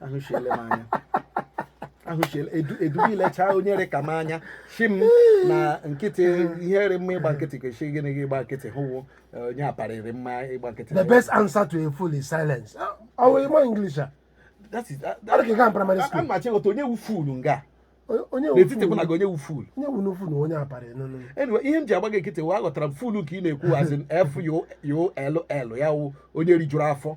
ahụchiele m anya ahụchiele edu edu ilechaa onye rị ka m anya si m na nkịtị ihe rị mma ịgba nkịtị kwesị gịnị gị ịgba nkịtị hụwo eh, onye aparị rị mma ịgba nkịtị The best answer to a fool is silence. Ọ wụ ị ma English a. That is- that- Ọ dị ka ị gaa primary a- a school. ma chịghọta onye wu fool nga Onye- Onye wụ n'etiti mụ na fool? gị onye wu fool Onye wụ n'ofu na onye abalị nọ nọ. anyway ihe m ji agba gị nkịtị wụ aghọtara m full ka ị na-ekwu as in f u l l ya wụ onye rijuru afọ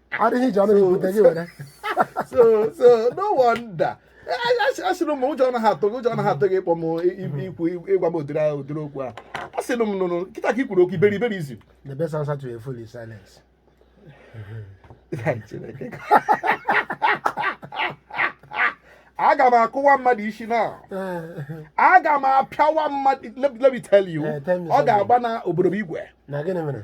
adịghị iji ọnụ gị bute gị were so so no wonder asịrị m ụjọ anaghị atụ gị ụjọ anaghị atụ gị ịkpọ m i- i- ikwu ịgwa m ụdịrị ahụ- ụdịrị okwu a asịrị m nụnụ kịta ka i kwuru okwu iberiberi ị sị the best answer to a fool is silence aga m akụwa mmadụ isi na aga m apịawa mmadụ let let me tell you Eh, tell me ọ something. ga-agba na obodo bụ igwe na gịnị mere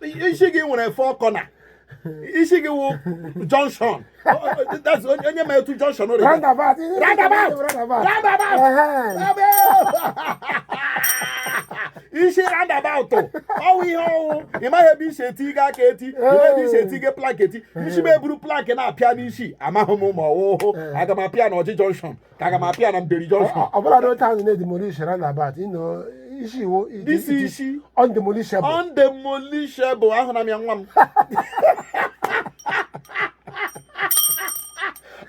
isi gị nwere four corner isi gị wụ junction That's onye onye ma etu junction dị. roundabout Roundabout! roundabout Roundabout! Ehe. Ebe! isi roundabout ọ wụ ihe ọ wụ ị maghị ebe e si eti gị aka eti ị maghị ebe e si eti gị plank eti isi m eburu plank na-apịa n'isi amaghị m ma ọ wụ aga m apịa na ọjị junction ka aga m apịa na mbieri junction ọbụla n'otu ahụ na demolish roundabout you know isi gị wụ it- This it is issue- undemolishable undemolishable ahụ na m ya nwa m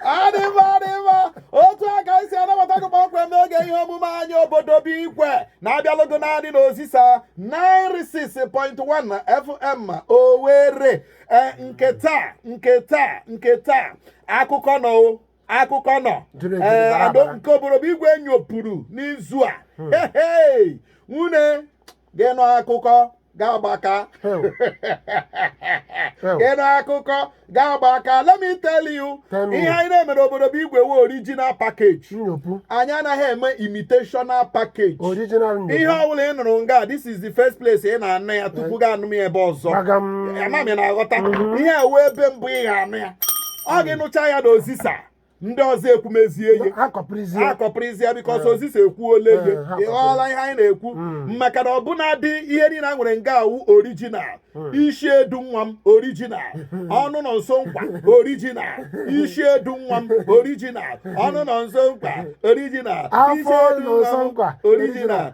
adịba adịba otu a ka anyị si anabata gị kpọmkwem n'oge ihe omume anyị obodo bụ igwe na-abịalụgo naanị n'ozisa 96.1 fm owere ee nke taa nke taa nke taa akụkọ nọ o akụkọ nọ nke obodo bụ igwe nyopụrụ n'izu a hmm. nwunye gị nọ akụkọ ga-agbaka ị nụ akụkọ ga-agbaka let me tell you ihe anyị na-eme n'obodo bụ igwe wụ original package anyị anaghị eme imitational package ihe ọbụla ị nụrụ nga this is the first place ị na-anụ ya tupu eh. gị anụ ya ebe ọzọ ama m ị na-aghọta mm-hmm. ihe a wụ ebe mbụ ị ga-anụ ya ọ gị nụcha ya na ozisa ndị ọzọ ekwumezie ihe akọpụrụzie because eh. ozisa ekwuola ego eh, ị ghọọla ihe anyị na-ekwu hmm. maka na ọbụnadị ihe niile anyị nwere nga wụ original hmm. isi edu nwa m original ọnụ nọ nso nkwa original isi edu nwa m original ọnụ nọ nso nkwa original isi edu nwa m original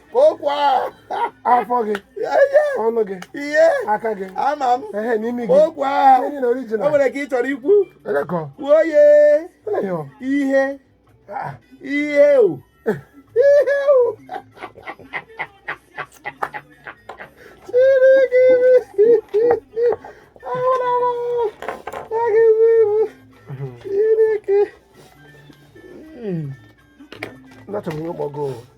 okwa afọ gị ọnụ gị ihe aka gị ama m ehe n'imi gị okwa enyi na orijinal o nwere ka ị chọrọ ikwu elekọ kwuo ye eleghị ọ ihe Ah, ihe o ihe o chiri gị ahụla m agị ibu chiri gị ndachọbụ ihe ụgbọgo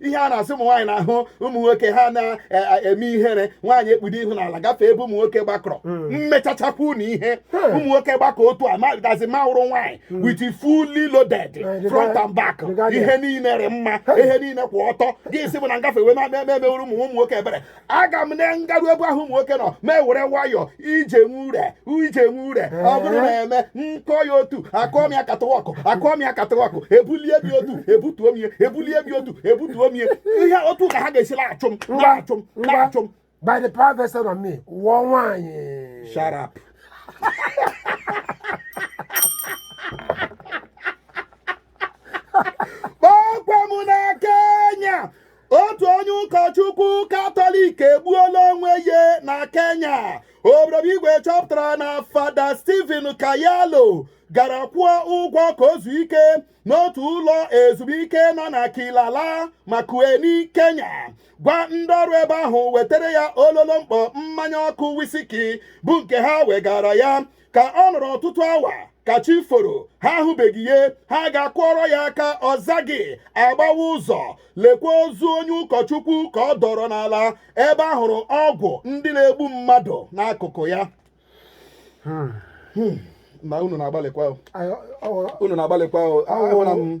ihe a na-asị ụmụ nwaanyị na-ahụ ụmụ nwoke ha na-eme ihere nwaanyị ekpudo ihu n'ala gafee ebe ụmụ nwoke gbakọrọ hmm. mmechachakwu na ihe hmm. ụmụ nwoke gbakọrọ otu a asị m wụrụ nwaanyị hmm. with fully loaded front and back ihe niile rị mma ihe niile kwụ ọtọ gị esi ebe ahụ na-agafe wee na-eme emewere ụmụ ụmụ nwoke ebere aga m na ngaru ebe ahụ ụmụ nwoke nọ m ewere nwayọọ ije nwe ure ije nwe ure ọ bụrụ na eme nkọ ya otu akụọ m ya katawakụ akụọ m ya katawakụ ebulie bi otu ebutuo m ya ebulie bi otu ebutuo m ya ihe otu a ka ha ga-esi na-achụ m na-achụ m na-achụ m by the power vested on me wụ nwaanyị shut up kpọkwa m na kenya otu onye ụkọchukwu katọlik egbuola onwe ya na kenya obodo bụ igwe chọpụtara na fada steven kyalo gara kwụọ ụgwọ ka o zuo ike n'otu ụlọ ezumike nọ na Kilala Makueni Kenya gwa ndị ọrụ ebe ahụ wetara ya ololo mkpọ mmanya ọkụ wisiki bụ nke ha wegara ya ka ọ nọrọ ọtụtụ awa ka chi foro ha ahụbeghị ya ha gaa kụọrọ ya aka ọ zaghị a gbawaa ụzọ lekwa ozu onye ụkọchukwu ka ọ dọrọ n'ala ebe a hụrụ ọgwụ ndị na-egbu mmadụ n'akụkụ ya hmm. Hmm. na unu na-agbalịkwa unu na-agbalịkwa ahụla m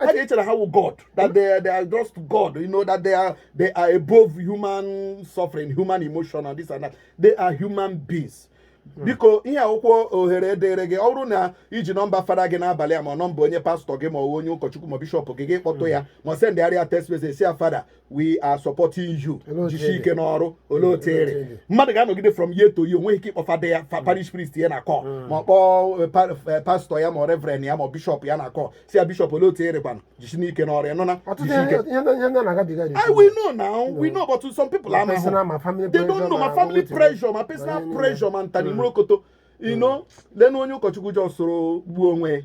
I think that how God that they are, they are just God, you know that they are they are above human suffering, human emotion, and this and that. They are human beings. Hmm. biko ihe akwụkwọ ohere dịrị gị ọ bụrụ na i ji nọmba fada gị n'abalị a ma nọmba onye pastọ gị ma onye ụkọchukwu ma bishọp gị gị kpọtụ hmm. ya ma sendịgharịa text message sị ya fada we are supporting you jisi ike n'ọrụ olee otu ị rị mmadụ ga-anọgide from year to year o nweghị ike ịkpọ fada ya hmm. parish priest ya na call hmm. ma ọ kpọọ eh, eh, pastọ ya ma reverend ya ma bishọp ya na call sị ya bishọp olee otu ị rị kwanụ jisi ike n'ọrụ ya nụna I we know now we hmm. know but some people amaghị they don't know ma family pressure ma personal pressure ma nta na imo rokoto ino lenu onye ụkọchukwu jọ soro gbuo onwe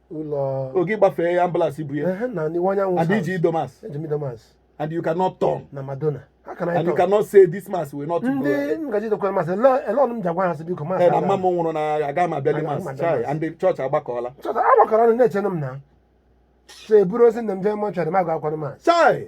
ụlọ oge gbafee ya ambulance bu ya ehe na n'iwe anyanwụ and i ji ido mass eji m ido mass and you cannot turn na madonna ha ka na and you ịtọ cannot say this mass will not ndị go ngaji dokwara mass olee ọnụ m ji agwa ha sị biko mass Eh, na mama m nwụrụ na aga m abịali Agaghị m mas abịa chai mass. and the church agbakọọla chọta agbakọrọ ọnụ na-echenụ m na so eburu ozu nne m jee mọchụarị m agwa akwara mass chai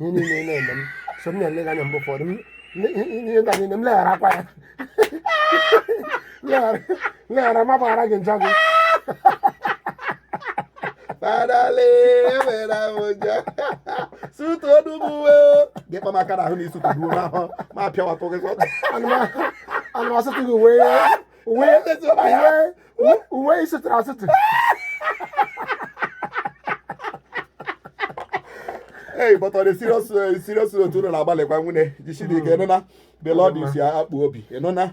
ihe niile ị na-eme m so m na-ele gị anya mgbe ụfọdụ m- m- ihe nta niile m legharakwa anya Leghara- leghara ma gbaghara gị njọ gị Fadale, ewere ahụ ụjọ. Sutu ọdụ m uwe o. Gị kpa m aka n'ahụ na isutu gbuo n'ahụ ma pịawatụ gị sọ. ana m asụtụ gị uwe uwe Ezi ụlọ ya. uwe uwe ị sụtụrụ asụtụ Hey, but on a serious, uh, serious note, unu na-agbalịkwa nwunye jisi dị ike ịnụna the Lord is your akpụ obi ịnụna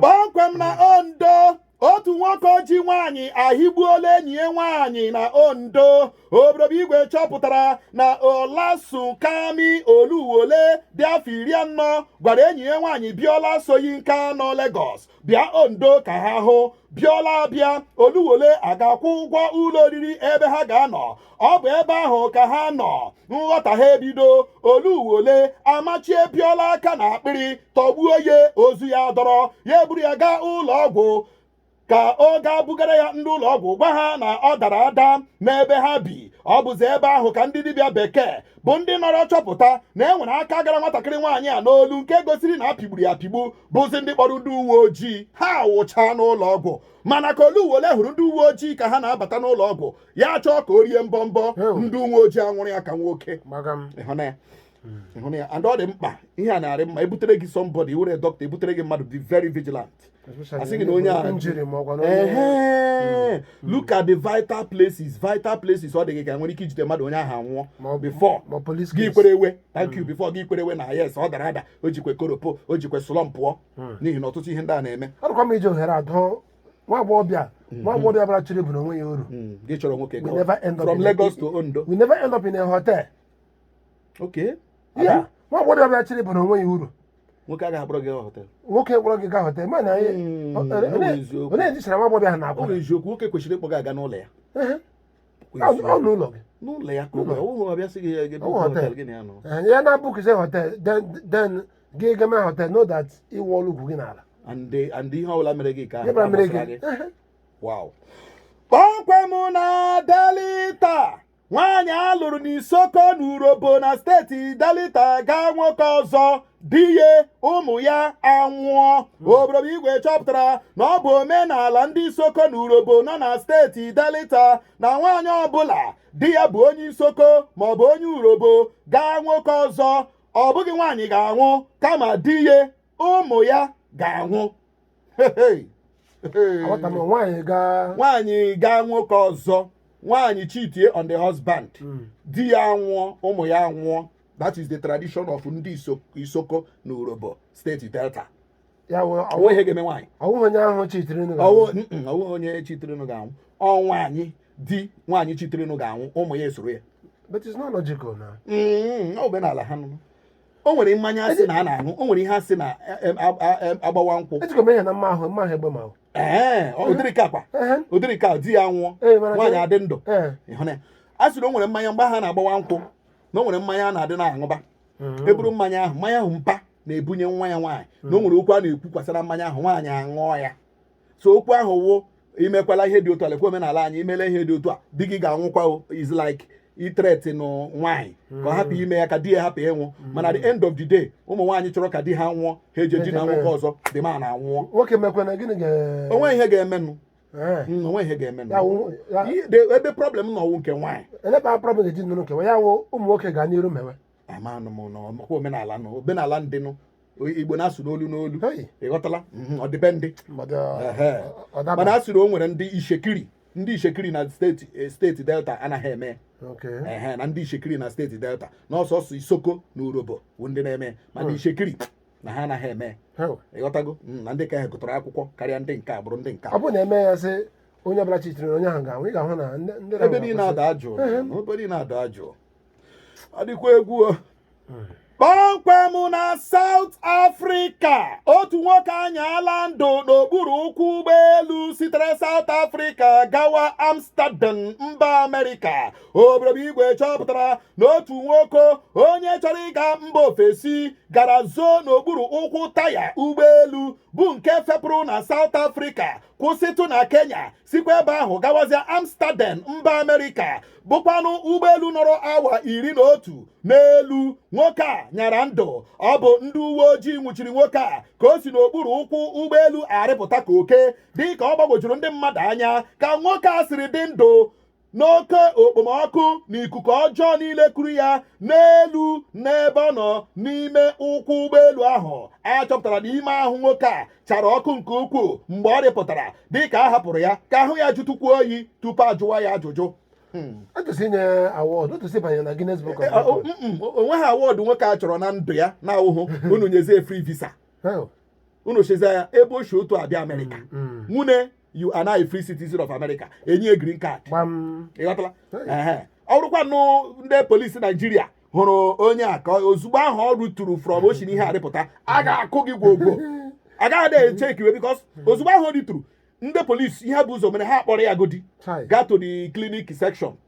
kpọmkwem na ondo otu nwoke oji nwaanyị ahịgbuola enyi ya nwaanyị na ondo oboro be igwe chọpụtara na olasunkanmi oluwole dị afọ iri anọ gwara enyi ya nwaanyị biola soyinka nọ Lagos bịa ondo ka ha hụ biola abịa oluwole agaa kwụọ ụgwọ ụlọ oriri ebe ha ga-anọ ọ bụ ebe ahụ ka ha nọ nghọtahie ebido oluwole amachie biola aka na akpịrị tọgbuo ya ozu ya adọrọ ya eburu ya gaa ụlọ ọgwụ ka ọ gaa bugara ya ndị ụlọ ọgwụ gwa ha na ọ dara ada n'ebe ha bi ọ bụzi ebe ahụ ka ndị dibịa bekee bụ ndị nọrọ chọpụta na e nwere aka gara nwatakịrị nwaanyị a n'olu nke gosiri na a pịgburu ya apịgbu bụzi ndị kpọrọ ndị uwe ojii ha wụchaa n'ụlọ ọgwụ mana ka oluwole hụrụ ndị uwe ojii ka ha na-abata n'ụlọ ọgwụ ya chọọ ka o rie mbọmbọ ndị uwe ojii anwụrụ ya ka nwoke ya and ọ dị mkpa ihe a na-arị mma e butere gị somebody ị wụrụ dọkịta e butere gị mmadụ dị very vigilant a sị gị na onye a hmm. look at the vital places vital places ọ dị gị ka e nwere ike ijide mmadụ onye ahụ anwụọ before gị kwerewe thank you hmm. before gị kwerewe na yes ọ dara ada o jikwe koropo o jikwe slumpụọ hmm. n'ihi na ọtụtụ ihe ndị a na-eme arụkwa m iji ohere a dụọ nwa agbọghọbịa hmm. nwa agbọghọbịa bara chịrị bụ na onwe ya uru hmm. gị chọrọ nwoke from Lagos to Ondo will never end up in a hotel okay yeah nwa agbọghọbịa bara chịrị bụ na onwe ya uru nwoke agaghị akpọrọ gị gaa họtel nwoke kpọrọ gị gaa họtel mana onye ejichara nwa agbọghọbịa ha na-akpọ eziokwu nwoke kwesịrị ịkpọ gị aga n'ụlọ ya ọ n'ụlọ gị n'ụlọ ya n'ụlọ ya ụlọ ọ bịa sị gị ya gebe hotel gị na ya nọ eh, ya na book say hotel then then gị geme hotel know that ị wụọla ugwu gị n'ala and and ihe ọbụla mere gị ka ha mere gị wow kpọmkwem na delita nwaanyị a lụrụ n'isoko na urobo na steeti delita gaa nwoke ọzọ di ya ụmụ ya anwụọ hmm. oboro be igwe chọpụtara na ọ bụ omenala ndị isoko na urobo nọ na steeti delita na nwaanyị ọbụla di ya bụ onye isoko maọbụ onye urobo gaa nwoke ọzọ ọ bụghị nwaanyị ga-anwụ kama di ya ụmụ ya ga-anwụ nwaanyị gaa nwoke ọzọ nwaanyị cheatie on the husband hmm. di ya anwụọ ụmụ ya anwụọ that is the tradition of ndị Isoko na Urhobo steeti Delta ọ wụ ihe ga-eme nwaanyị ọ wụ onye ahụ chitirinụ ọ wụ onye chitirinụ ga-anwụ ọ nwaanyị di nwaanyị chitirinụ ga-anwụ ụmụ ya esoro ya but it's not logical na mm, ọ bụ omenala ha nụ o nwere mmanya a sị na a na-aṅụ o nwere ihe a sị na e, e, e, agbawa nkwụ ejikọ m ihe na mma ahụ mma ahụ egbe ma ahụ ee ụdịrị ka akwa ụdịrị ka di ya nwụọ nwaanyị adị ndụ ịhụ na ya a sịrị o nwere mmanya mgbe ha na-agbawa nkwụ na o nwere mmanya a na-adị na-aṅụba mm-hmm. e buru mmanya ahụ mmanya ahụ mpa na-ebunye nwa ya nwaanyị na o mm-hmm. nwere okwu a na-ekwukwasara mmanya ahụ nwaanyị aṅụọ ya so okwu ahụ wụ i mekwala ihe dị otu a lekwa omenala anyị i mela ihe dị otu a di gị ga-anwụkwa it's like itreti nụ nwaanyị ka ọ hapụ mm-hmm. ime ya ka di ya hapụ ịnwụ mana the end of the day ụmụ nwaanyị chọrọ ka di ha nwụọ ha eje dina nwoke ọzọ dị ma na anwụọ o nwe ihe ga-emenụ Eh. Mm, o nwe ihe ga-eme Ya wụ- ya- Ihe- de- ebe problem na ọnwụ nke nwaanyị eleba problem eji nnụnụ kewa ya wụ ụmụ nwoke ga n'iru mewe amanụ m na ọmakwa omenala nọ omenala ndị nọ Igbo na-asụ n'olu n'olu Hey. ị ghọtala Mhm, ọ dị be ndị mmadụ Ehe. ọ mana daba a sịrị o nwere ndị Itsekiri ndị Itsekiri na steeti eh, steeti Delta anaghị eme ya. okay ehe na ndị Itsekiri na steeti Delta na ọ sọsọ Isoko na Urhobo bụ ndị na-eme ya. mana Itsekiri na ha anaghị eme Hey. ị ghọtago Mm, na ndị ka ha gụtara akwụkwọ karịa ndị nke agbụrụ ndị nke a. ọ bụrụ na e mee ya sị onye ọbụla chitiri na onye ahụ ga-anwụ ị ga-ahụ na ndị ndị ebe na-anwụ niile adaa jụụ Ehe. ebe niile adaa jụụ ọ dịkwa egwu o. kpọmkwem na South Africa otu nwoke anyaala ndụ n'okpuru ụkwụ ụgbọelu sitere South Africa gawa Amsterdam mba Amerịka obodo igwe chọpụtara na otu nwoke onye chọrọ ịga mba ofesi gara zoo n'okpuru ụkwụ taya ụgbọelu bụ nke fepụrụ na South Africa kwụsịtụ na Kenya sikwa ebe ahụ gawazịa Amsterdam mba Amerịka bụkwanụ ụgbọelu nọrọ awa iri na otu n'elu nwoke a nyara ndụ ọ bụ ndị uwe ojii nwụchiri nwoke a ka o si n'okpuru ụkwụ ụgbọelu arịpụta ka oke dịka ọ gbagwojuru ndị mmadụ anya ka nwoke a siri dị ndụ n'oke okpomọkụ na ikuku ọjọọ niile kuru ya n'elu n'ebe ọ nọ n'ime ụkwụ ụgbọelu ahụ a chọpụtara na ime ahụ nwoke a chara ọkụ nke ukwuu mgbe ọ rịpụtara dịka a hapụrụ ya ka ahụ ya jụtụkwuo oyi tupu ajụwa ya ajụjụ atụsị nye award atụsị banye na Guinness Book of Records o nweghị award nwoke a chọrọ na ndụ ya na ahụhụ unu nyezie free visa Hey, unu chezie ya ebe o si otu abịa Amerịka mm, mm. nwune you are now free citizen of America e nye ya green card ị ghọtala ọ bụrụkwanụ ndị polisi Naijiria hụrụ onye a ka ozugbo ahụ ọ rịturu from o si n'ihe arịpụta a ga-akụ gị gwogwo a gaghị na-echekwa because ozugbo ahụ ọ rịturu ndị polisi ihe bu ụzọ mere ha kpọrọ ya godi gaa to the clinic section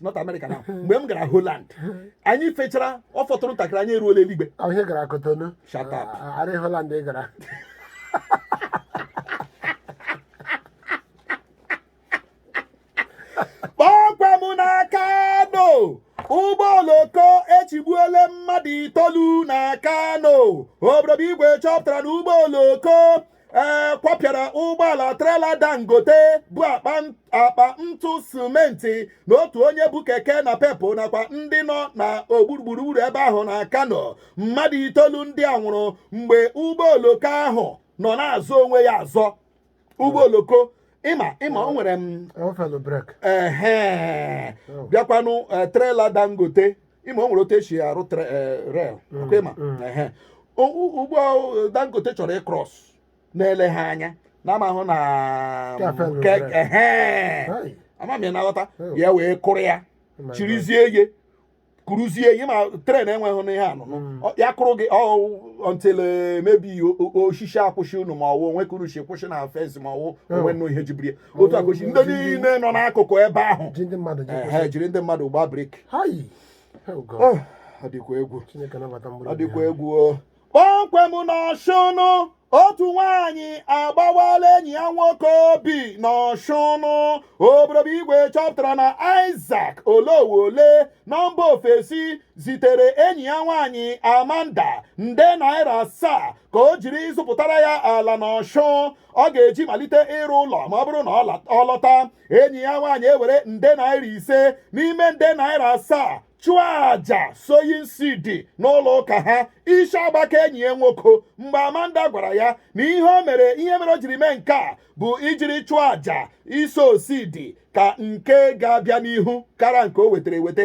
not America now mgbe m gara Holland anyị fechara ọ fọtụrụ ntakịrị anyị eruola eluigwe ahụ ihe gara kotonu Shut up. arị holand ị gara kpọmkwem na kano ụgbọ oloko echigbuola mmadụ itoolu na kano obodo igwe chọpụtara na ụgbọ oloko ee kwapịara ụgbọala trela dangote bu akpa ntụ simenti na otu onye bu keke napep nakwa ndị nọ na gburugburu ebe ahụ na kano mmadụ itoolu ndị a nwụrụ mgbe ụgbọ oloko ahụ nọ na-azọ onwe ya azọ ụgbọ oloko ịma ịma o nwere m ehe bịakwanụ eh, trela dangote ịma o nwere otu e si arụ tre- eh, rel ọkwa ịma Ehe. O- u- ụgbọ ahụ, dangote chọrọ ịcross na-ele ha anya na amahụ na Kafel ke- rel. ehe. Hai. ama m ya na-aghọta Oh. ya wee kụrụ ya Oh my chirizie ya kụrụzie ya ma tren enweghị n'ihe anụnụ Mm. Ọ- ya kụrụ gị until maybe osisi akwụsị unu ma ọwụ onwe kụrụ si kwụsị na fensị ma ọwụ o nwenụ ihe jibiri ya. otu akochi ndị niile nọ n'akụkụ ebe ahụ ji ndị mmadụ ji ehe kwụsị. jiri ndị mmadụ gbaa brik Hai! Oh God. Oh, ọ dịkwa egwu Chineke nabata mkpụrụ ọ obi dịkwa ya. egwu o kpọmkwem n'ọshụnụ otu nwaanyị agbawala enyi ya nwoke obi n'ọshụnụ obodo igwe chọpụtara na Isaac oluwole nọ mba ofesi zitere enyi ya nwaanyị Amanda nde naira asaa ka o jiri zụpụtara ya ala n'ọshụ ọ ga-eji malite ịrụ ụlọ ma ọ bụrụ na ọ lọta enyi ya nwaanyị ewere nde naira ise n'ime nde naira asaa chụọ aja sowing seed n'ụlọ ụka ha isi agbakaa enyi ya nwoke mgbe amanda gwara ya na ihe o mere ihe mere o jiri mee nke a bụ ijiri chụọ aja ịsow seed ka nke ga-abịa n'ihu kara nke o wetara eweta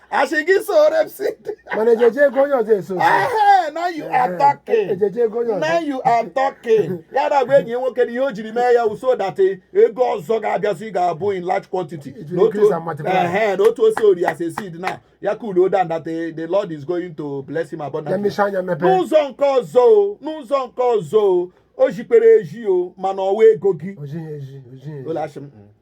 a sị gị sow seed mana ejighị ego onye ọzọ esow Ehe, now you are talking ejighị ego onye now ọzọ you are talking ya na-agwa enyi ya nwoke na ihe o jiri mee ya wụ so that eh, ego ọzọ ga-abịazi ga-abụ in large quantity Iji Na otu- increase and multiply. Ehe, na otu o si sow ya as a seed now ya cool down that eh, the lord is going to bless him ya abundantly mmechi anya mepee n'ụzọ nke ọzọ o n'ụzọ nke ọzọ o o zikpere ezi o mana ọwa ego gị o zighị ezi o zighị ezi ụlọ achị m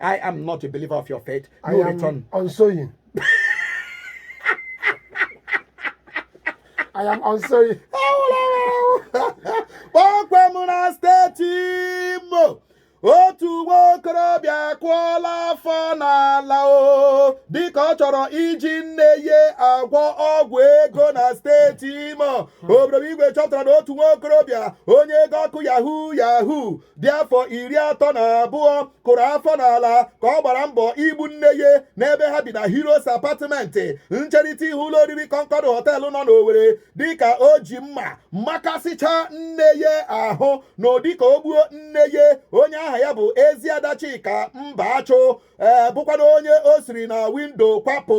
I am not a believer of your faith. I No am return. unsowing. I am unsowing. kpọmkwem na steeti imo otu nwa okorobịa kụọla afọ n'ala o dịka ọ chọrọ iji nne ya agwọ ọgwụ ego na steeti imo obodo igwe chọpụtara na otu nwa okorobịa onye ego ọkụ yahoo yahoo dị afọ iri atọ na abụọ kụrụ afọ n'ala ka ọ gbara mbọ igbu nne ya n'ebe ha bi na Heroes Apartment ncherịta ihu ụlọ oriri Concord Hotel nọ n'Owerri dịka o ji mma makasịcha nne ya ahụ n'ụdị ka o gbuo nne ya onye aha ya bụ Eziada Chika Mbaachụ ee eh, bụkwana onye o siri na windo kwapụ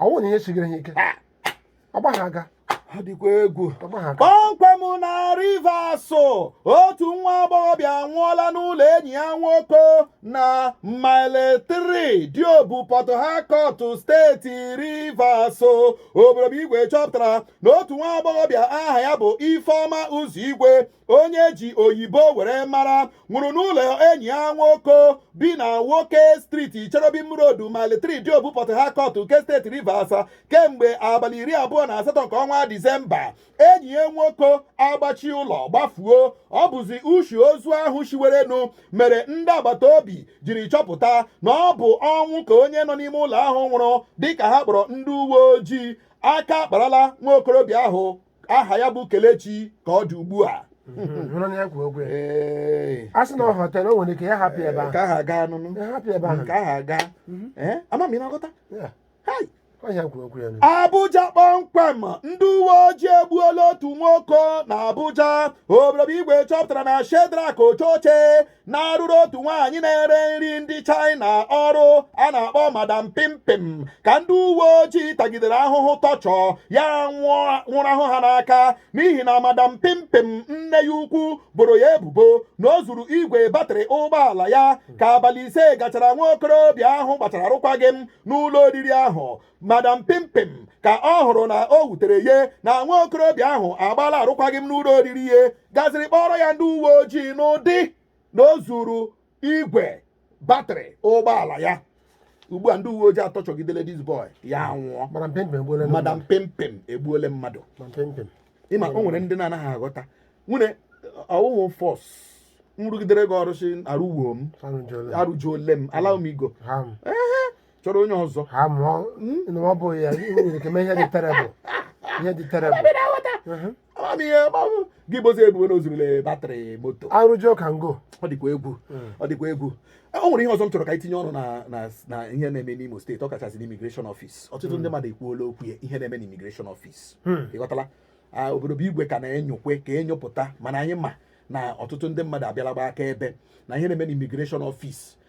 ọ wụ na ihe sigiri ha ike ọgba ha aga ọ dịkwa egwu ọgba ha aga kpọmkwem na Rivers otu nwa agbọghọbịa anwụọla n'ụlọ enyi ya nwoke na mile 3 diobu port harcourt steeti Rivers obodo bụ igwe chọpụtara na otu nwa agbọghọbịa aha ya bụ ifeọma Ụzọigwe onye ji oyibo were mara nwụrụ n'ụlọ enyi ya nwoke bi na nwoke striti Cherubim Road Mile 3 Diobu Port Harcourt nke steeti Rivers kemgbe abalị iri abụọ na asatọ nke ọnwa Disemba enyi ya nwoke agbachi ụlọ gbafuo ọ bụzi ushi ozu ahụ shiwerenụ mere ndị agbata obi jiri chọpụta na ọ bụ ọnwụ ka onye nọ n'ime ụlọ ahụ nwụrụ dịka ha kpọrọ ndị uwe ojii aka akparala nwa okorobịa ahụ aha ya bụ kelechi ka ọ dị ugbu a hụrụ na ya kwuo okwu ya Ee, a sị na ọ họtelu o nwere ike ya hapụ ebe ahụ ka aha gaa nụnụ ya hapụ ebe ahụ ka aha gaa Ee, ama m ị na-aghọta Ya, Hai! ọ ya kwuo okwu ya nụ. Abuja kpọmkwem ndị uwe ojii egbuola otu nwoke na Abuja obodo bụ igwe chọpụtara na Shedrak Ochoche na-arụrụ otu nwaanyị na-ere nri ndị China ọrụ a na-akpọ madam pimpim ka ndị uwe ojii tagidere ahụhụ tọchọ ya nwụrahụ ha n'aka n'ihi na madam pimpim nne ya ukwu boro ya ebubo na o zuru igwe batrị ụgbọala ya ka abalị ise gachara nwa okorobịa ahụ gbachara arụkwaghị m n'ụlọ oriri ahụ madam pimpim ka ọ hụrụ na o wutere ya na nwa okorobịa ahụ agbaala arụkwaghị m n'ụlọ oriri ya gaziri kpọrọ ya ndị uwe ojii n'ụdị na o zuru igwe batrị ụgbọala ya ugbu a ndị uwe ojii atọchọgidele this boy ya nwụọ madam pimpim egbuole mmadụ ị ma o nwere ndị na-anaghị aghọta nwunye ọ wụhụ force m rụgidere gị ọrụ sị arụwo m arụjuole m allow me go chọrọ onye ọzọ ha mụọ na ọ bụ ya ihe nwere ike mee ihe dị terrible ihe dị terrible Ebe na-aghọta. Mhm. Ama m ihe ma ọ bụ gị bozi ebubo na o zurule batrị moto arụjọ ka ngo ọ dịkwa egwu ọ dịkwa egwu o nwere ihe ọzọ m chọrọ ka anyị tinye ọnụ na- na na ihe na-eme n'imo steeti ọ kachasị n'immigration office ọtụtụ ndị mmadụ ekwuola okwu ya ihe na-eme n'immigration office Hmm. ị ghọtala Ah, obodo bụ igwe ka na-enyokwe ka e nyopụta mana anyị ma na ọtụtụ ndị mmadụ abịala gbaa akaebe na ihe na-eme n'immigration office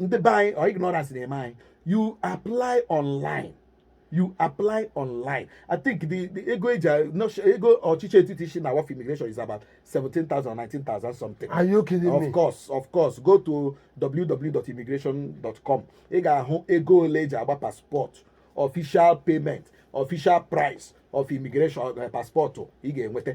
ndị be anyị ọ ignorance na-eme anyị you apply online you apply online i think the the ego eji ego ọchịchị etiti isi na waf immigration is about seventeen thousand nineteen thousand something. are you kidding me of course of course go to www.immigration.com ị ga-ahụ ego ole eji agba passport official payment official price of immigration eh, passport ị ga-enweta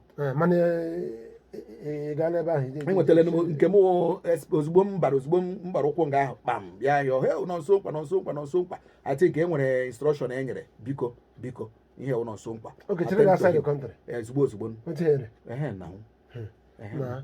Eh, mana eh, eh, ị gaala ebe ahụ ije- enwetara m nke m es- ozugbo m bara ozugbo m gbara ụkwụ nga ahụ kpam bịa yọọ he nọ nso nkwa nọ nso nkwa nọ nso nkwa ati ka e nwere instruction e nyere biko biko ihe wụ nọ nso nkwa Okay, chere gị Attend to outside the him. country. Eh, ozugbo ozugbo Otu here. ehe na Ehe. na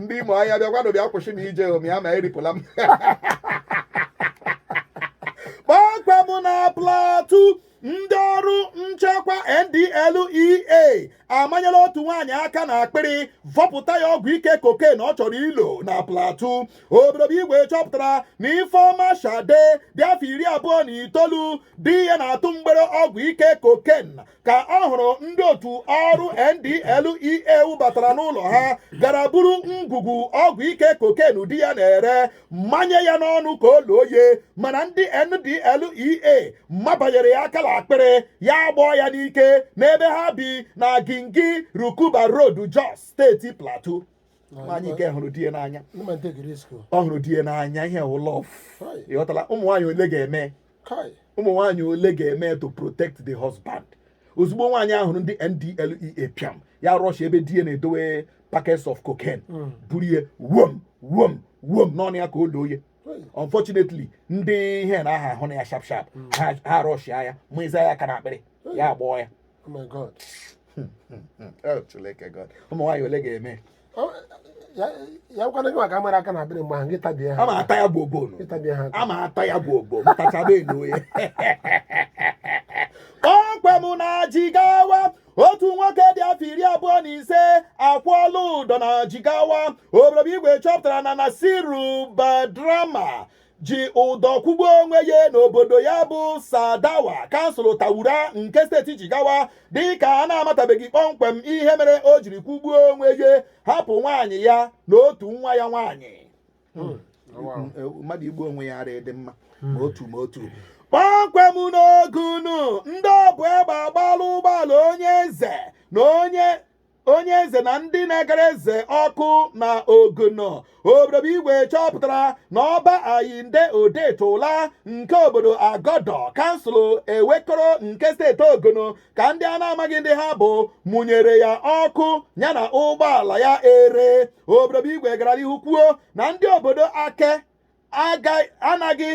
ndị Ụmụahịa bịakwanụ bịa kwụsị m ije Ụmụahịa ma eripụla m kpọmkwem na Plateau ndị ọrụ nchekwa NDLEA amanyela otu nwaanyị aka na akpịrị vọpụta ya ọgwụ ike koken ọ chọrọ ilo na Plateau obodo bụ igwe chọpụtara na Ifeoma Shade dị afọ iri abụọ na itoolu di ya na-atụ mgbere ọgwụ ike koken ka ọ hụrụ ndị otu ọrụ NDLEA batara n'ụlọ ha gara buru ngwugwu ọgwụ ike koken di ya na-ere manye ya n'ọnụ ka o loo ye mana ndị NDLEA mabanyere ya aka la akpịrị ya agbọọ ya n'ike n'ebe ha bi n'Agingi Rukuba Road Jos steeti Plateau nwaanyị nke hụrụ di ya n'anya ọ hụrụ di ya n'anya ihe ụlọ ịghọtala ụmụ nwaanyị ole ga-eme ụmụ nwaanyị ole ga-eme to protect the husband ozugbo nwaanyị a hụrụ ndị NDLEA pịam ya rush ebe di ya na-edowe packets of cocaine hmm. buru ihe wom wom wom n'ọnụ ya ka o loo ya unfortunately ndị ihe na ha ahụna ya sharp sharp hmm. ha rush ya mụịza ya aka na akpịrị ya agbọọ ya oh ụmụ nwaanyị ole ga-eme ya kwana gị maka mara aka na akpịrị mgbe ahụ gị tabie ha a ma ata ya bụ ogbo nụ. ịtabie ha a ma ata ya bụ ogbo mụtachaba elu ya kpọmkwem na jigawa otu nwoke dị afọ iri abụọ na ise akwụọla ụdọ na jigawa obodo bụ igwe chọpụtara na nasiru badrama ji ụdọ kwụgbuo onwe ya n'obodo ya bụ Tsadawa kansụl Taura nke steeti Jigawa dịka a na-amatabeghị kpọmkwem ihe mere o jiri kwụgbuo onwe ya hapụ nwaanyị ya na otu nwa ya nwaanyị hmm. mmadụ igbu onwe ya ara dị mma ma otu ma otu kpọmkwem n'Ogun ndị obu egbe agbaala ụgbọala onye eze na onye onye eze na ndị na-agara eze ọkụ na Ogun obodo bụ igwe chọpụtara na ọba ayinde Odetola nke obodo agodo kansụl Ewekoro nke steeti Ogun ka ndị a na-amaghị ndị ha bụ mụnyere ya ọkụ ya na ụgbọala ya ere obodo bụ igwe gara n'ihu kwuo na ndị obodo ake anaghị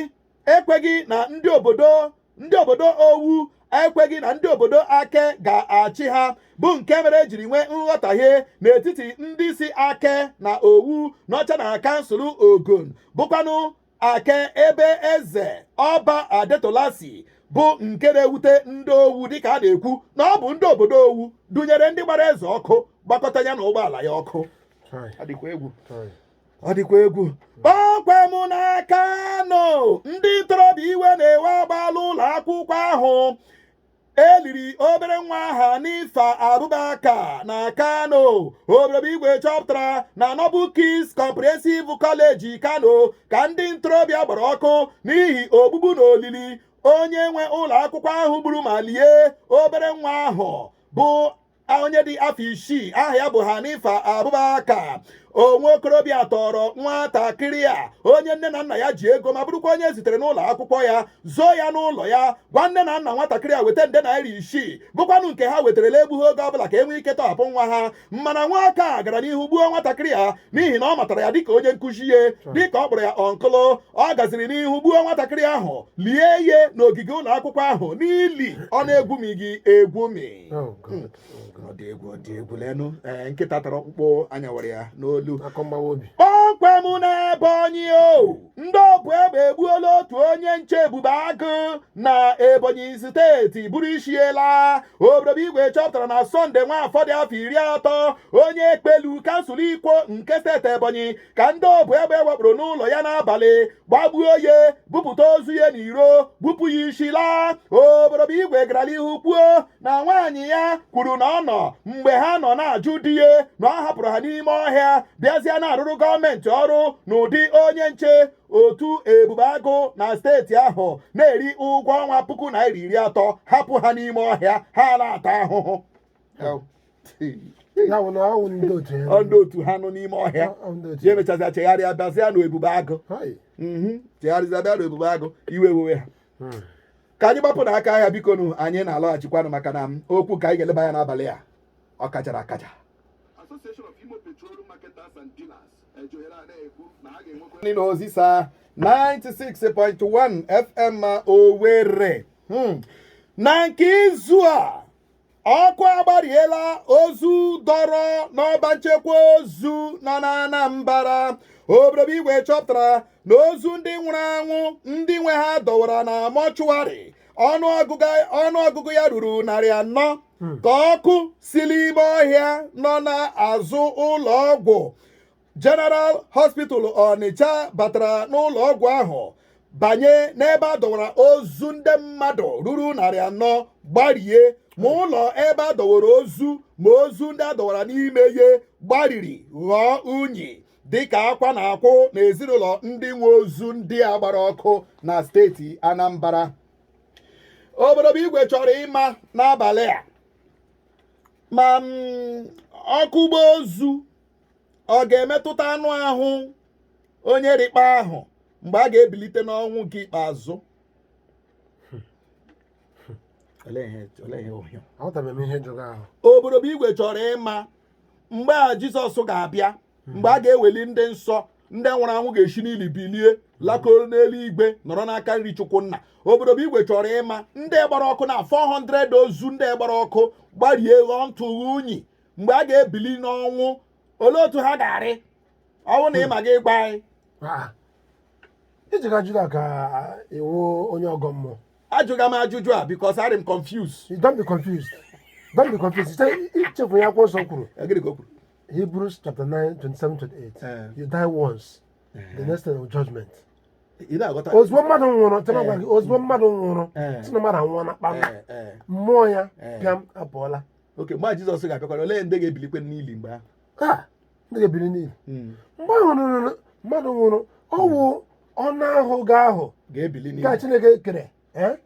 ekweghị na ndị obodo ndị obodo owu ekweghị na ndị obodo ake ga-achị ha bụ nke mere ejiri nwee nghọtahie n'etiti ndị si ake na owu nọcha na kansụl ogun bụkwanụ ake ebe eze ọba adetola si bụ nke na-ewute ndị owu dịka a na-ekwu na ọ bụ ndị obodo owu dunyere ndị gbara eze ọkụ gbakọta ya na ụgbọala ya ọkụ ọ dịkwa egwu kpọmkwem na Kano ndị ntorobịa iwe na-ewe agbaala ụlọ akwụkwọ ahụ eliri obere nwa a Hanifa Abubakar na kano oborobo igwe chọpụtara na Noble Kids Comprehensive College kano ka ndị ntorobịa gbara ọkụ n'ihi ogbugbu na olili onye nwe ụlọ akwụkwọ ahụ gburu ma lie obere nwa ahụ bụ onye dị afọ isii aha ya bụ Hanifa Abubakar o nwe okorobịa tọrọ nwatakịrị a onye nne na nna ya ji ego ma bụrụkwa onye zitere n'ụlọ akwụkwọ ya zoo ya n'ụlọ ya gwa nne na nna nwatakịrị a weta nde naira isii bụkwanụ nke ha wetara na-egbughị oge ọbụla ka e nwee ike tọhapụ nwa ha mana nwoke a gara n'ihu gbuo nwatakịrị a n'ihi na ọ matara ya dịka onye nkụzi ya dịka ọ kpọrọ ya uncle ọ gaziri n'ihu gbuo nwatakịrị ahụ lie ya n'ogige ụlọ akwụkwọ ahụ n'ili ọ na-egwumighị egwumi Oh, God. Oh, God. ọ dị egwu ọ dị egwu leenụ ee nkịta tara ọkpụkpụ a nyawara ya n'olu Akụkọ mgbawa obi. kpọmkwem na ebonyi o ndị obu egbe egbuola otu onye nche ebube agụ na ebonyi steeti buru isi ya laa oborobo igwe chọpụtara na Sunday Nwafor dị afọ iri atọ onye ekpelu kansụl ikwo nke steeti ebonyi ka ndị obu egbe wakporo n'ụlọ ya n'abalị gbagbuo ya bupụta ozu ya n'iro bupụ ya isi laa oborobo igwe gara n'ihu kwuo na nwaanyị ya kwuru na ọ nọ mgbe ha nọ na-ajụ di ya na ọ hapụrụ ha n'ime ọhịa bịazịa na-arụrụ gọọmenti ọrụ n'ụdị onye nche otu ebube agụ na steeti ahụ na-eri ụgwọ ọnwa puku naira iri atọ hapụ ha n'ime ọhịa ha na-ata ahụhụ ya bụ na ọ wụ ndị otu ya ọ ndị otu ha nọ n'ime ọhịa Ọ- ọ ndị otu ya emechazịa chegharịa bịazịa na ebube agụ Hai. Mhm. chegharịzịa bịa na ebube agụ iwe wewe ha Hmm. ka anyị gbapụ n'aka ahịa bikonụ anyị na-alọghachikwanụ maka na m okwu ka anyị ga-eleba ya n'abalị a ọ kachara akacha Association of Imo Petroleum Marketers and Dealers ji ohere a na-ekwu na ha ga-enwekwa ndị na Ozisa 96.1 FM Owerri Hmm. na nke izu a ọkụ agbariela ozu dọrọ n'ọba nchekwa ozu nọ na Anambra oborobo igwe chọpụtara na ozu ndị nwụrụ anwụ ndị nwe ha dọwara na mọchụwarị ọnụọgụgụ ya ruru narị anọ hmm. ka ọkụ si n'ime ọhịa nọ n'azụ ụlọ ọgwụ General Hospital Ọnịcha batara n'ụlọ ọgwụ ahụ banye n'ebe a dọwara ozu ndị mmadụ ruru narị anọ gbarie ma ụlọ ebe a dọwara ozu ma ozu ndị a dọwara n'ime ya gbariri ghọọ unyi dịka akwa na-akwụ n'ezinụlọ ndị nwe ozu ndị a gbara ọkụ na steeti Anambra obodo bụ igwe chọrọ ịma n'abalị a ma mm, ọkụ gbaa ozu ọ ga-emetụta anụ ahụ onye rịkpa ahụ mgbe a ga-ebilite n'ọnwụ nke ikpeazụ Olee ihe- olee ihe ohio? Aghọtabeghị m ihe ị jụrụ ahụ. obodo bụ igwe chọrọ ịma mgbe a jizọs ga-abịa mgbe a ga-eweli ndị nsọ ndị nwụrụ anwụ ga-esi n'ili bilie lakoro n'eluigwe nọrọ n'aka nri chukwu nna obodo bụ igwe chọrọ ịma ndị gbara ọkụ na 400 ozu ndị gbara ọkụ gbarie ghọọ ntụ na unyi mgbe a ga-ebili n'ọnwụ olee otu ha ga-arị ọ wụ na ịma gị ịgwa anyị Ah. iji ka juda ka ị wụ onye ọgọ mmụọ ajụga m ajụjụ a because arị m confuse You don't be confused don't be confused Site ichefu ya akwụkwọ nsọ kwuru gịnị ka o kwuru hebrews chapter 9 27 28 Eh. you die once the next thing is judgment ị na-aghọta ozugbo mmadụ nwụrụ tena gwa gị ozugbo mmadụ nwụrụ Eh. sị na mmadụ anwụọna kpam Eh, eh, mmụọ ya Eh. pịam apụọla okay mgbe a jizọs ga-abịakwara olee ndị ga-ebilikwe n'ili mgbe ahụ ka ndị ga-ebili n'ili Mm. mgbe ahụ nụrụ mmadụ nwụrụ ọ wụ anụ ahụ gị ahụ ga-ebili n'ili ka chineke kere eh?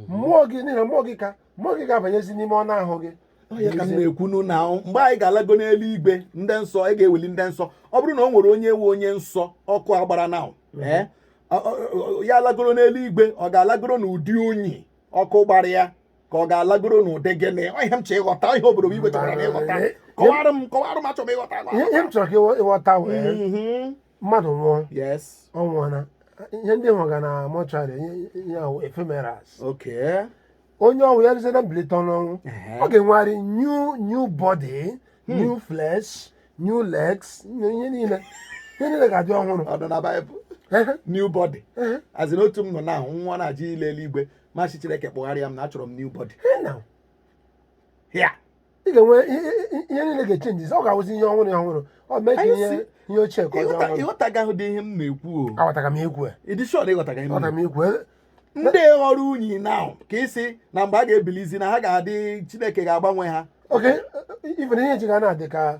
mmụọ gị n'ihi na mmụọ gị ka mmụọ gị ga-abanyezi n'ime anụ ahụ gị ọ ya ka m na-ekwunu na mgbe anyị ga-alago n'eluigwe ndị nsọ anyị ga-eweli ndị nsọ ọ bụrụ na o nwere onye wụ onye nsọ ọkụ agbara na ee ọ- ọ- ọ- ya alagoro n'eluigwe ọ ga-alagoro n'ụdị unyi ọkụ gbara ya ka ọ ga-alagoro n'ụdị gịnị ọ ihe m chọ ịghọta ihe obodo bụ igwe chọrọ ịghọta kọwara m kọwara m achọ m ịghọta ihe ihe m chọrọ ka ịghọ- ịghọta wụ Mhm. mmadụ nwụọ yes ọ nwụọna ihe ndị ị hụga na mortuary ihe ahụ ephemerals okay onye ọ wụ ya ruzie na mbilite n'ọnwụ Ehe. ọ ga-enwegharị new new body new flesh new legs new ihe niile ihe niile ga-adị ọhụrụ ọ nọ na baịbụl Ehe, new body ehe. as in otu m nọ na nwa na-aja ịla eluigwe m asị chineke kpụgharịa m na achọrọ m new body Hey, now. ya ị ga-enwe ihe- ihe ihe niile ga-echenji ọ ga-awụzi ihe ọhụrụ ihe ọhụrụ ọ mee ka Anyị ihe si- ihe ochie ka ọ dị ọhụrụ ịghọtaga ụdị ihe m na-ekwu o aghọtara m ikwu ịdị short ịghọtaga ihe m aghọtara m ikwu ndị ghọrọ unyi ahụ ka ị sị na mgbe a ga-ebilizi na ha ga-adị chineke ga-agbanwe ha okay ifere ihe ji ga na-adị ka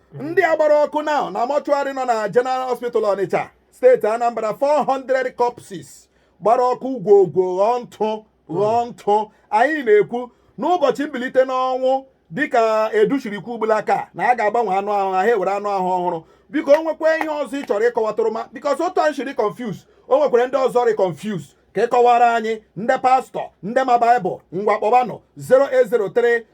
ndị a gbara ọkụ nọ na mọchụarị nọ na General Hospital Ọnịcha steeti Anambra 400 corpses gbara ọkụ gwogwo ghọọ ntụ ghọọ ntụ anyị na-ekwu n'ụbọchị mbilite n'ọnwụ dịka Edu shiri kwuo ugbulaka na a ga-agbanwe anụ ahụ ha ewere anụ ahụ ọhụrụ biko o nwekwa ihe ọzọ ị chọrọ ịkọwatụrụ ma bikos otu anyị shi rị confuse o nwekwara ndị ọzọ rị confuse ka ị kọwara anyị ndị pastọ ndị ma baịbụl ngwa kpọbanụ 0803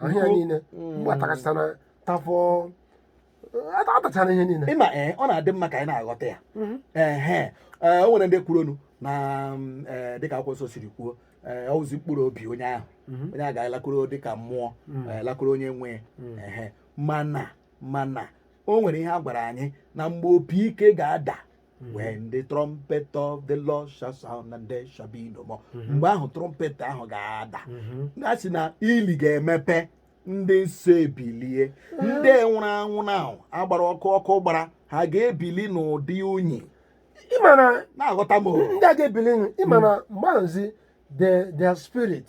ahịa Biko. niile Mm. gbatakasịta na tafọ ata- atachara ihe niile ịma ee ọ na-adị mma ka anyị na-aghọta ya ehe ee, o nwere ndị kwurunụ na mm, ee, dịka akwụkwọ nsọ siri kwuo ee, ọ wụzi mkpụrụ obi onye ahụ Mhm. onye a ga-alakwuru dịka mmụọ Mm. ee, lakwuru onye nwe ya. Mm. ehe mana mana o nwere ihe a gwara anyị na mgbe opi ike ga-ada Mm-hmm. when the trumpet of the Lord shall sound and there shall be no more mm-hmm. mgbe ahụ trumpet ahụ ga-ada mm-hmm. a sị na ili ga-emepe ndị nsọ ebilie ndị nwụrụ anwụ na a gbara ọkụ ọkụ gbara ha ga-ebili n'ụdị unyi na-aghọta m ndị a ga-ebili ị ma na mm. mgbe ahụzi their spirit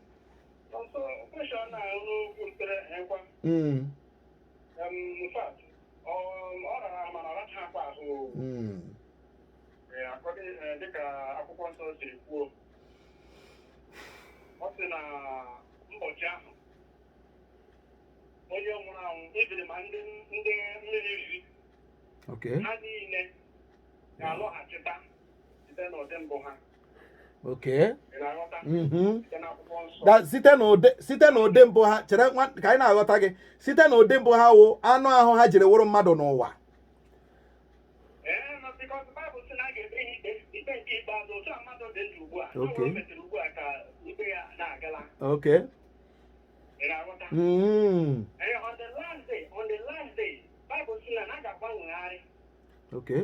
dịka akwụkwọ nsọ siri kwuo ọ sị na ụbọchị ahụ onye nwụrụ anwụ ebiri ma ndị ndị mmiri riri Okay. ha niile ga-alọghachita site n'ụdị mbụ ha okay mm-hmm. site na ụdị site na ụdị mbụ ha chere ka anyị na-aghọta gị site na ụdị mbụ ha wụ anụ ahụ ha jiri wụrụ mmadụ n'ụwa okay okay mm. okay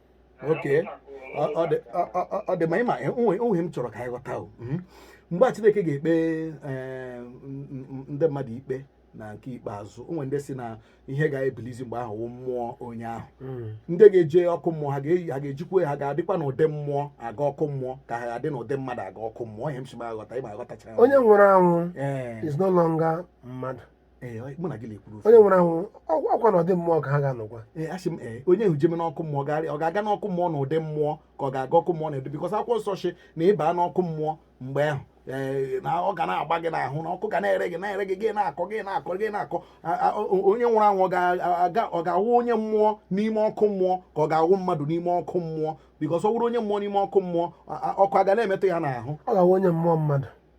Okay. Ọ ọ dị ọ- ọ- ọ- ọ dị mma ịma o nwe ihe m chọrọ ka anyị ghọta o Mhm. mgbe a Chineke ga-ekpe eh, m- m- ndị mmadụ ikpe na nke ikpeazụ o nwe ndị sị na ihe ga-ebilizi mgbe ahụ wụ mmụọ onye ahụ Mm. ndị ga-eje ọkụ mmụọ ha ga-eyi ha ga-ejikwa ha ga-adịkwa n'ụdị mmụọ aga ọkụ mmụọ ka ha ga-adị n'ụdị mmadụ aga ọkụ mmụọ ihe m si ma aghọta ịma aghọtachara onye nwụrụ anwụ ee is no longer mmadụ ee ọ- mụ na gị na-ekwuru ofu onye nwụrụ anwụ ọkwa na ụdị mmụọ ka ha ga-anọkwa ee asị m ee onye ahụ jeme n'ọkụ mmụọ garị ọ ga-aga n'ọkụ mmụọ na ụdị mmụọ ka ọ ga-aga ọkụ mmụọ na ụdị bikọs akwụkwọ nsọ sị na ị ba n'ọkụ mmụọ mgbe ahụ ee, na ọ ga na-agba gị n'ahụ na ọkụ ga na-ere gị na-ere gị gị na-akọ gị na-akọ gị na-akọ A- a- o- onye nwụrụ anwụ ọ ga-aga- ọ ga-awụ onye mmụọ n'ime ọkụ mmụọ ka ọ ga-awụ mmadụ n'ime ọkụ mmụọ bikọs ọ wụrụ onye mmụọ n'ime ọkụ mmụọ a- a- ọkụ a ga na-emetụ ya n'ahụ ọ ga-awụ onye mmụọ mmadụ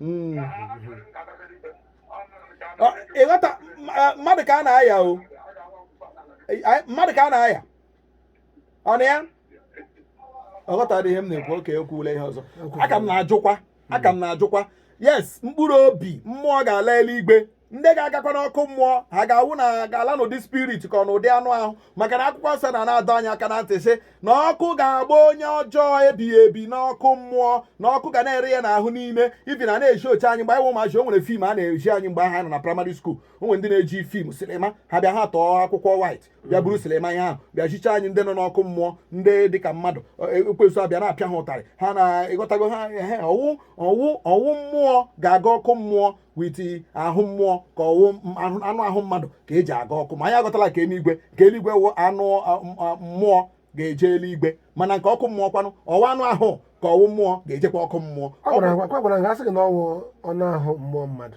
Mm. Ọ, ịghọta ma- eh, mmadụ ka a na-aya o Anyị- anyị- mmadụ ka a na-aya ọ na ya ọ ghọtara ihe m na-ekwu okay ekwuwula ihe ọzọ aka m na-ajụkwa aka m na-ajụkwa yes mkpụrụ obi mmụọ ga-ala eluigwe ndị ga-agakwa n'ọkụ mmụọ ha ga-awụ na ga-ala n'ụdị spirit ka ọ n'ụdị anụ ahụ maka na akwụkwọ nsọ na na-adọ anyị aka na ntị sị na ọkụ ga-agba onye ọjọọ ebighị ebi n'ọkụ mmụọ na ọkụ ga na-ere ya n'ahụ niile even a na-ezi oche anyị mgbe anyị wụ ụmụazị o nwere film a na-ezi anyị mgbe ha nọ na primary school o nwere ndị na-eji film silima ha bịa ha atọọ akwụkwọ white bịa buru silima ihe ahụ bịa zicha anyị ndị nọ n'ọkụ mmụọ ndị dịka mmadụ e, ekwensu abịa na-apịa ha ụtarị ha na-ịghọtago ha ehe ọ wụ ọ wụ ọ wụ mmụọ ga-aga ọkụ mmụọ with ahụ mmụọ ka ọ wụ anụ ahụ mmadụ ka eji aga ọkụ ma anyị aghọtala ke eluigwe ke eluigwe wụ anụ mmụọ ga-eje eluigwe mana nke ọkụ mmụọ kwanụ ọ wụ anụ ahụ ka ọ wụ mmụọ ga-ejekwa ọkụ mmụọ ọ gwara ha sị gị na ọ wụ anụ ahụ mmụọ mmadụ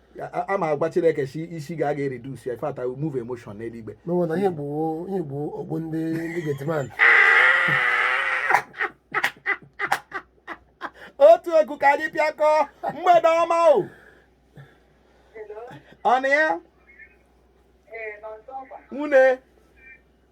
a ma agwa chineke si isi ga aga eredus ya ifata move emotion n'eluigwe n'ụwa na ihe bụ ihe bụ ogbu ndị ndị getiman otu egwu ka anyị pịakọ mgbede ọma o ọnụ ya nwune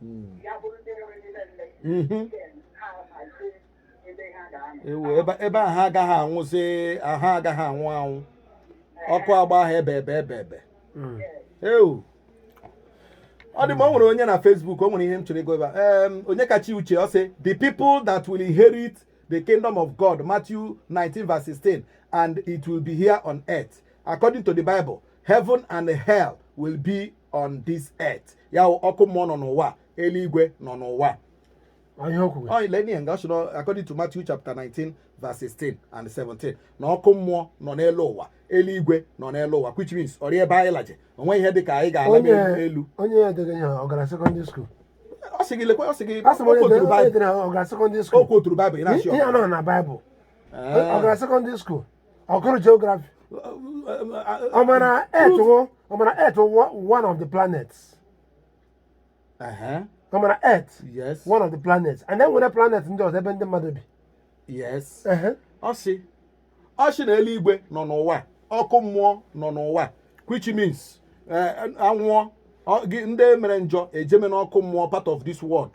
hmm. ya bụrụ ndị nwere niile nne mhm. ha hazie ebe ha ga-anọ ewu ebe ebe a ha agaghị anwụzi ha agaghị anwụ anwụ ọkụ ga-agba ha ebeebe ebeebe Mm. ewu ọ dị mma o nwere onye na Facebook o nwere ihe m chọrọ ịgụ ebe a Em, Onyekachi Uche ọ sị the people that will inherit the kingdom of God Matthew 19 verse 16 and it will be here on earth according to the Bible heaven and hell will be on this earth ya ọkụ mmụọ nọ n'ụwa eluigwe nọ n'ụwa according to Matthew chapter 19 verse 16 and 17 na ọkụ mmụọ nọ n'elu ụwa eluigwe nọ n'elu ụwa which means ọ rịa ebe anyị laje o nwe ihe dị ka anyị ga-ala n'elu onye a dere ihe ọ gara secondary school ọ sị gị lekwe ọ sị gị o quoturu Bible ihe a nọ na Bible ọ gara secondary school ọ gụrụ geography ọ ma na earth wụ ọ ma na earth wụ one of the planets Ehe, ọ ma na earth yes one of the planets and e nwere planet ndị ọzọ ebe ndị mmadụ bi yes Ehe. ọ sị ọ sị na eluigwe nọ n'ụwa ọkụ mmụọ nọ n'ụwa which means eh, a nwụọ ọ- gị- ndị mere njọ ejeme n'ọkụ mmụọ part of this world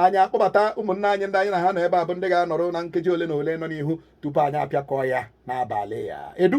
anyị akpọbata ụmụnna anyị ndị anyị na ha nọ ebe a bụ ndị ga-anọrọ na nkeji ole na ole nọ n'ihu tupu anyị apịakọọ ya n'abalị a edu